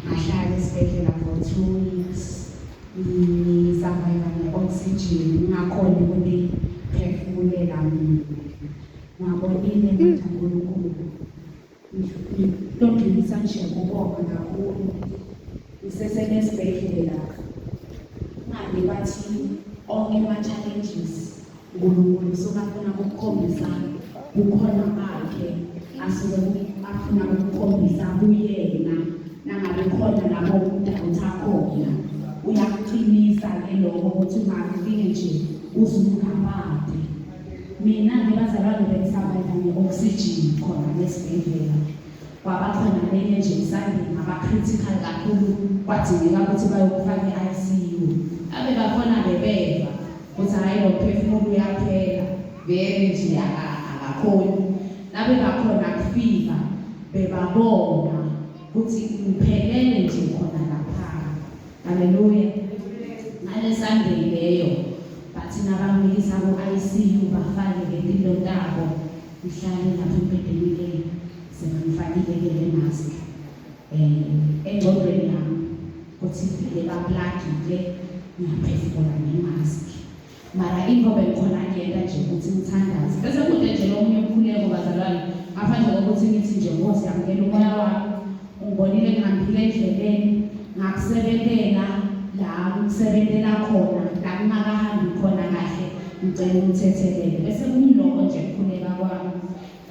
ngahlala esibhedlela for two weeks ngisurviva ne-oxygen ngingakhoni ukuthi phefumulela mina ngabonile mtha nkulunkulu ndodlulisa nje kubonga kakhulu ngisesenesibhedlela ngabe bathi onke ama-challenges uNkulunkulu usuke afuna ukukhombisa kukhona bakhe asuke afuna ukukhombisa kuyena nangabe khona lapho umuntu awutha khona uyakuqinisa ke lokho ukuthi ungakufike nje uzungabade mina ngibazalwane bengisabela nge-oxygen khona nesibhedlela kwaba khona lenye nje isandini ngaba-critical kakhulu kwadingeka ukuthi bayokufaka i-icu abe bakhona bebeva Futhi hhayi nomphefumulo uyaphela vele nje akakhoni. Nabebakhona kufika bebabona ukuthi ngiphelele nje khona lapha. Haleluya. Ngale Sunday leyo bathi nabamikisa ku-ICU bafake ngempilo tabo ihlale lapho embhedeni ke sengimfakile ke le mask um engcondweni yami kuthi vele baplagile ngiyaphefumula ngemask mara into bengikhona ngiyenta nje ukuthi ngithandaze bese kude nje lo munye umkhuleko bazalwane ngaphandle kokuthi ngithi nje nkosi yamukela umoya wami ungibonile ngihambile endleleni ngakusebentela la ngisebentela khona la kungakahambi khona kahle ngicela umthethelele bese kumloko nje kukhuleka kwami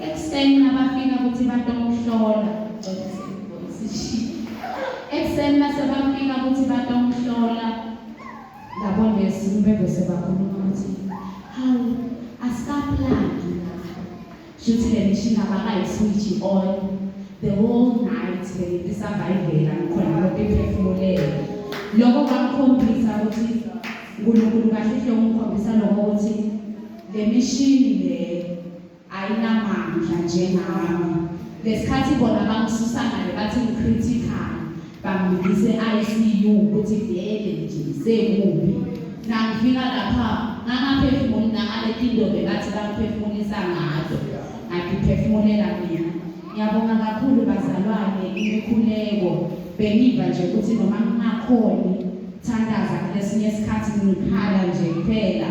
Ekuseni nabafika ukuthi batomhlola ekuseni base bafika ukuthi batomhlola labo nesi bebe sebakhuluma ukuthi hawu asikaplani la shuthi le mishini abakayiswitshi on the whole night beyisavayivela khona lokho iphefumulela lokho kwakukhombisa ukuthi uNkulunkulu kahle hle ungikhombisa lokho ukuthi le mishini le ayinamandla njengami ngesikhathi bona bangisusa ngale bathi ngicritical bangibise ICU ukuthi vele nje sekubi nangifika lapha ngangaphefumuli nangale tindobe bathi bangiphefumulisa ngazo angiphefumulela mina ngiyabonga kakhulu bazalwane imikhuleko bengiva nje ukuthi noma ngingakhoni thandaza kulesinye isikhathi ngikhala nje kuphela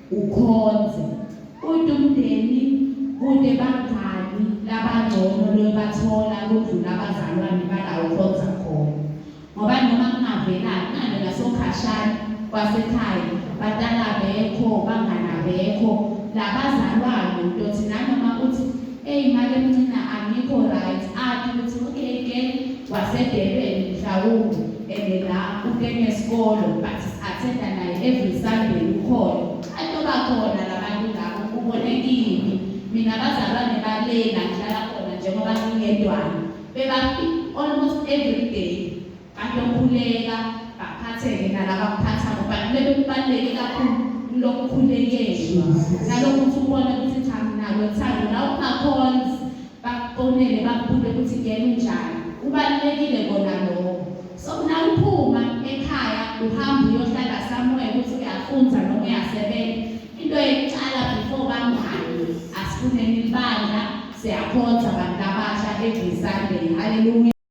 ukhonze uthi umndeni kude bangani labangcono lobathola kudlula abazalwane balawo ukhonza khona ngoba noma kungavelani ngane ngasokhashana kwasekhaya batala bekho bangana bekho labazalwane utothi nanoma uthi Eyi make mncina angikho right athi ukuthi okay girl wasedebeni mhlawumbe and la ukene sikolo but athenda naye every sunday ukhona atoba khona labantu labo kubonekile mina bazalwane balena ngihlala khona njengoba ngingedwana bebafika almost every day Bayokhuleka baphatheke nalaba kuphathako but lebe kubaluleke kakhulu lokukhulekelwa nalokhu ukuthi ubone ukuthi cha nalo thando la ungakhonzi bakufonele bakubule ukuthi ngeke unjani kubalulekile kona lokho so nawuphuma ekhaya uhamba uyohlala somewhere ukuthi uyafunza noma uyasebenza into yokuqala before bangani asifuneni ibandla siyakhonza abantu abasha every sunday haleluya